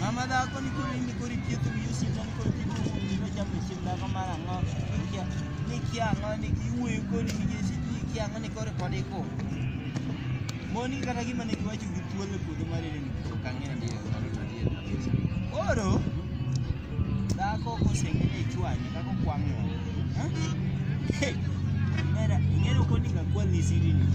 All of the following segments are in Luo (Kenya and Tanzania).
Mama da ko ni ko ni ko ri ki tu yu si jan ko ki ko ni ni ja pe si da ko ma ngo ni ki ni ki a ngo ni ki wu ko ni ki si ni ki a ngo ni ko ri ko ni ko mo ni kata gi mane ki wacho gi thuolo puodho mar ni ko ka ng'e ni oro Dhako koseng'eyo ichwanye kaka okwang' ng'o. Mera, ing'eyo kodi ka kwa ni siri ni.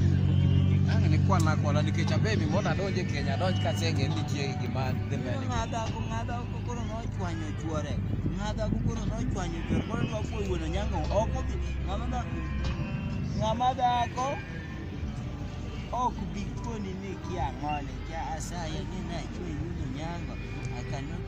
Ang' ni kwana kwana nikech abemi mondo adonj e Kenya adonj ka aseng'e ni nitie gima dhi mbele. Ng'adha ko ng'adha ko koro nochwanyo chwore. Ng'adha ko koro nochwanyo chwore. Koro dwa kuo wuono nyango. Ok obi. Ng'ama da ng'ama dhako ok bi koni ni kia ng'ole kia asaye ni na chwe yudo nyango. I cannot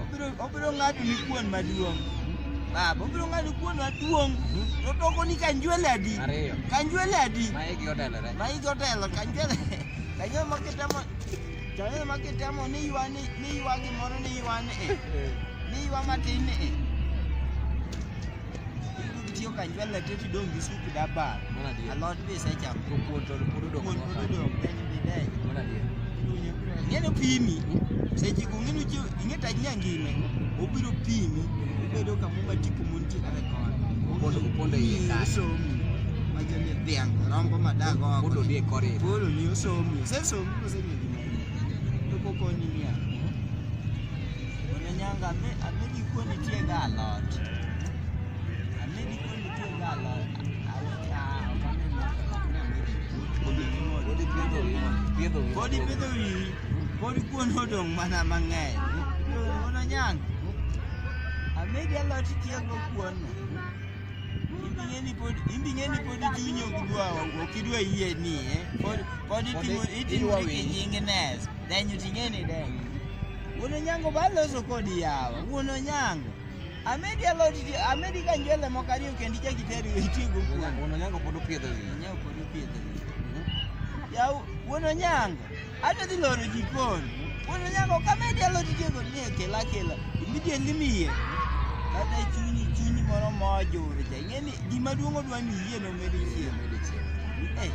Obiro obiro ng'ado ni kuon maduong'. Baba, obiro ng'ado kuon maduong'. To toko ni kanjwele adi? Ariyo. Kanjwele adi? Ma igi otelore. Ma igi otelo kanjwele. Kanjwele ma kitemo kanjwele ma kitemo ni ywa ni ni ywa gimoro ni ywa ni. eh. Ni ywa matin ni. eh. Tiyo ka nywel na teti dong gi sup daba. Mana dia. Alot be se cham. To kuon to pod odong. Kuon pod odong. Deny be deny. Mana dia. Ngene pimi. Se ji ku ngene ji ngene ta nya ngine. Obiro pimi. Obedo ka muma tipo mun ti kare kon. Opondo opondo iye ka. So mi. Majani dhiang rombo madago. Opondo die kore. Bolo ni so mi. Se so mi ko se ni. To ko ko ni ya. Ona nyanga me amedi ko ni tie ga alot. Pod ipidho wiyi, pod kuon odong' mana mang'eny. Kuon onyang'. Amedi alot itiyogo kuon. Imbing'e ni pod imbing'e ni pod chunyi ok dwa ok idwa yie ni eh. Pod pod itimo itimo gi jingness. Then you ting'e ni deng. Wuon onyango ba loso kodi yawa. Wuon onyango. Amedi alot ji, amedi ka njwele moko ariyo kendo ichak iteri itigo kuon. Wuon Onyango pod opidho gi. Onyango pod opidho gi. Yaw, wuon Onyango, adwa dhi loro jikon. Wuon Onyango, ka amedi alot itigo ni kela kela, immediately miye. Kata chunyi chunyi moro mojur cha. Ing'e ni gima duong' odwa ni yie no med yie. Eh,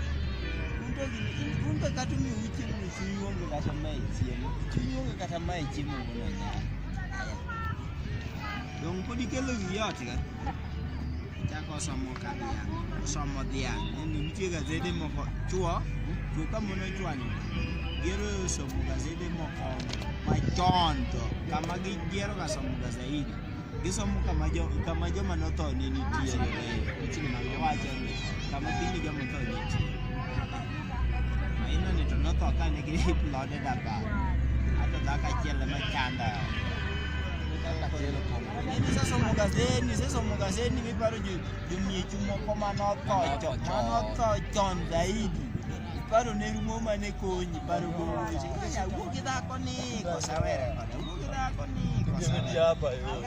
un to gini, in- un to kata umiu chiemo ni chunyi onge kata mae chiemo. Chunyi onge kata mae chiemo wuon Onyango. Dong pod ikelo wi ot ga. Chako osomo ka dhiang', osomo dhiang'. Neno nitie gazede moko chwo, chwo ka mon ochwanyo. Gero somo gazede moko machon to kama gigiero ga somo ga zaidi. Gisomo kama jo kama joma notho ne nitie. Chini ma wacho ni kama piny joma notho ne nitie. Maino ni tono to ka ne giri plode da ba. Ato da ka chele ma chanda. Nini sasa mugazeni, sasa mugazeni mi paro ju jumie chumo ko mano to cho, mano to chon zaidi. Paro ne rumo mane konyi, paro go. Ya wuki da ko ni ko sawere ko. Wuki da ko ni ko sawere.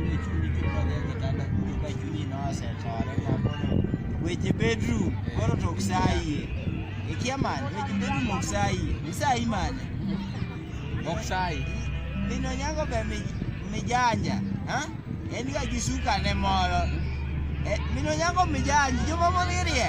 Ile chuni kipa de kitanda kuto ka chuni no asetore na kono. Weche bedroom koro to oksayie. Ikia man, weche bedroom oksayie. Isayi man. Oksayie. Mino nyango be mi mijanja, ha? En ga gi suka ne moro. Eh, mino nyango mijanja, joma moririe.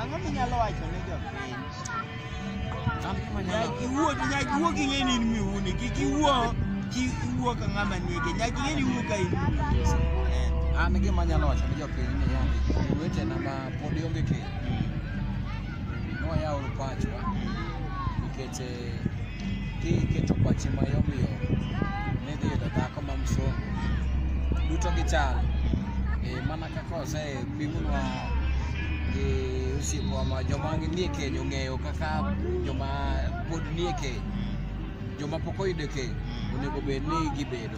Ang'o minyalo wacho ne jopiny? Nyaka iwuo nyaka iwuo gi ng'eni in miwuoni, kik iwuo kik iwuo ka ng'ama nege, nyaka ing'eni iwuo ka in miwuoni. Eh, An gima anyalo wacho ne jopiny ni yande wetena ma pod onge keny, nwayauru pachwa nikech eh, Ki keto pachi ma yom yom ni dhi yudo dhako ma msungu. Duto gichal. E, mana kaka ose pimunwa gi osiepwa ma joma nie keny ong'eyo kaka joma pod nie keny joma pok oyudo keny onego bed ni gibedo